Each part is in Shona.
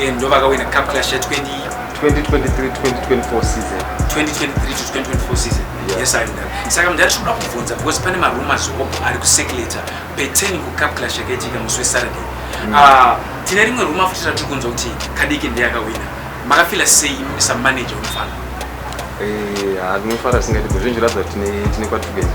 Eh, ndovakawina cup clash ya 20 2023 2024 season 2023 to 2024 season Yeah. yes i know saka mudhara tinoda kubvunza because pane marumors hope ari kusekuleta peteni kucup clash yakaitika musi wesaturday Ah, tine rimwe ruma futi ratiri kunzwa kuti kadiki ndiye akawina makafila sei imi samanager wemufana Eh, ah, ndinofara singati kuzvinji ratidza kuti tine- tine kwatiri kuenda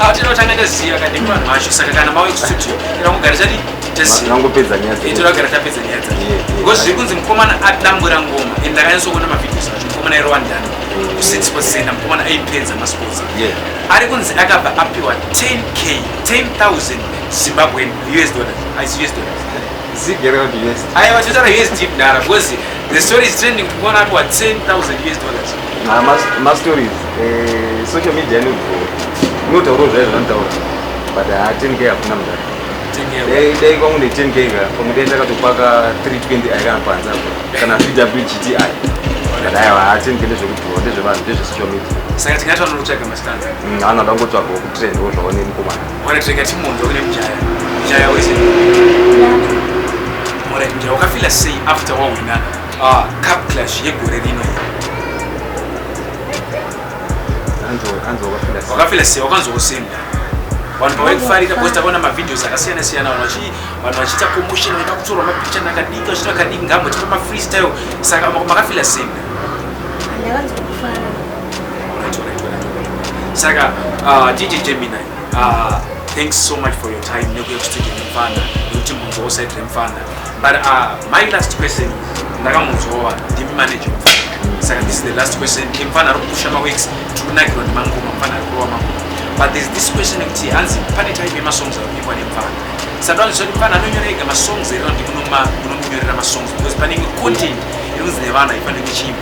Awo tinotanga taziva kadi vanhu vacho saka kana mawe studio tinongogara tati tinongopedza nyaya dzacho. Tinogara tapedza nyaya dzacho. Because zviri kunzi mukomana atambura ngoma and ndakanyatso kuona mavideos acho mukomana iri wandani. Mm. Kusiti sports center mukomana aipedza masports. Ari kunzi akabva apiwa 10k 10,000 Zimbabwean US dollars. As US dollars. Zig yakaita kuti yes. Aiwa chotara yes deep dara because the story is trending to one atwa 10,000 US dollars. Ah, ma, ma stories. Eh, social media ni go. Ni utauro zvaye zvantaura. But ah, 10k hakuna mdara. 10k. Dai dai kwangu ne 10k ka. Kwangu dai ndakatopaka 320 aika panza. Kana VW GTI. Kana aiwa 10k ndezvekudhuwa ndezvevanhu ndezve social media. Saka tingati vanotsvaga mastanza. Mm, anoda ngotsvaga kutrend ozvaone mukomana. Mwana tirega timunzwa kune mjaya. Mjaya wese. Mwana mjaya wakafila sei after wawina uh, cup clash yegore rino iri. Wakafila sei wakanzwa kusenda. Vanhu pavaikufarira because takaona mavideos akasiyana siyana vanhu vachi vanhu vachiita commotion vaida kutorwa mapicha nakadiki vachita kadiki ngambo tipa mafreestyle saka makafila sei. Ndakanzwa kufara. saka uh, dj gemini uh, thanks so much for your time nekuya kustudio nemfana nekuti munzwa usaid remfana but uh, my last question ndakamunzwawa ndimi manager mfana saka this is the last question emfana ari kupusha maweeks tikunakirwa nemangoma mfana ari kurova mangoma but there's this question ekuti hanzi pane type yemasongs ari kunyimwa nemfana saka anzvisa kuti mfana anonyora ega masongs here kuti munomunyorera masongs because panenge content inonzi nevana ifanire kuchiimba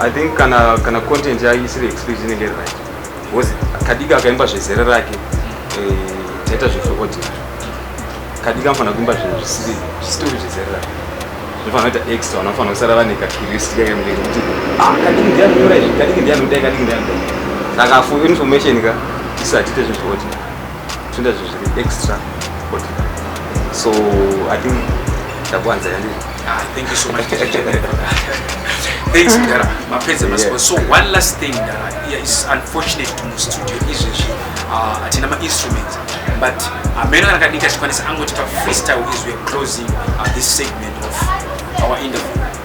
I think kana kana content ya isiri explicit inenge iri right because kadika akaimba zvezera rake eh, taita zvefeodina kadika anofanira kuimba zvinhu zvisiri zvisiri zvezera rake zvinofanira kuita extra vanofanira kusara vane kacuriosity kake mune kuti ah kadiki ndiye anonyora izvi kadiki ndiye anodai kadiki ndiye anodai saka for information ka tisatite zvefeodina Tunda zviri extra ordinary. So I think ndakuwanza yandiri. Ah, thank you so much. Thanks, Ndara. Mapedza masipo. So one last thing, Ndara. Yeah, it's unfortunate to move studio izvezvi. Uh, hatina ma-instruments. But amene kana kadika chikwanisa angotipa freestyle izwi closing uh, this segment of our interview.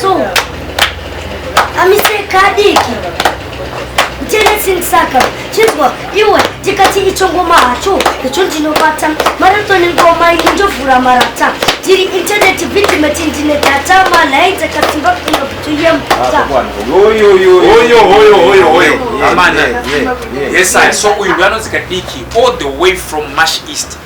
So, amise kadiki ndicheletsinsaka chinzwa iwe tikati icho ngoma hacho icho ndinobata maratoni ngoma iyi ndovhura marata tiri intaneti vitimeti ndine data malai dzakasimba kuenda kutuye mbuta amana yes i so uyu ndoanonzi kadiki all the way from mash east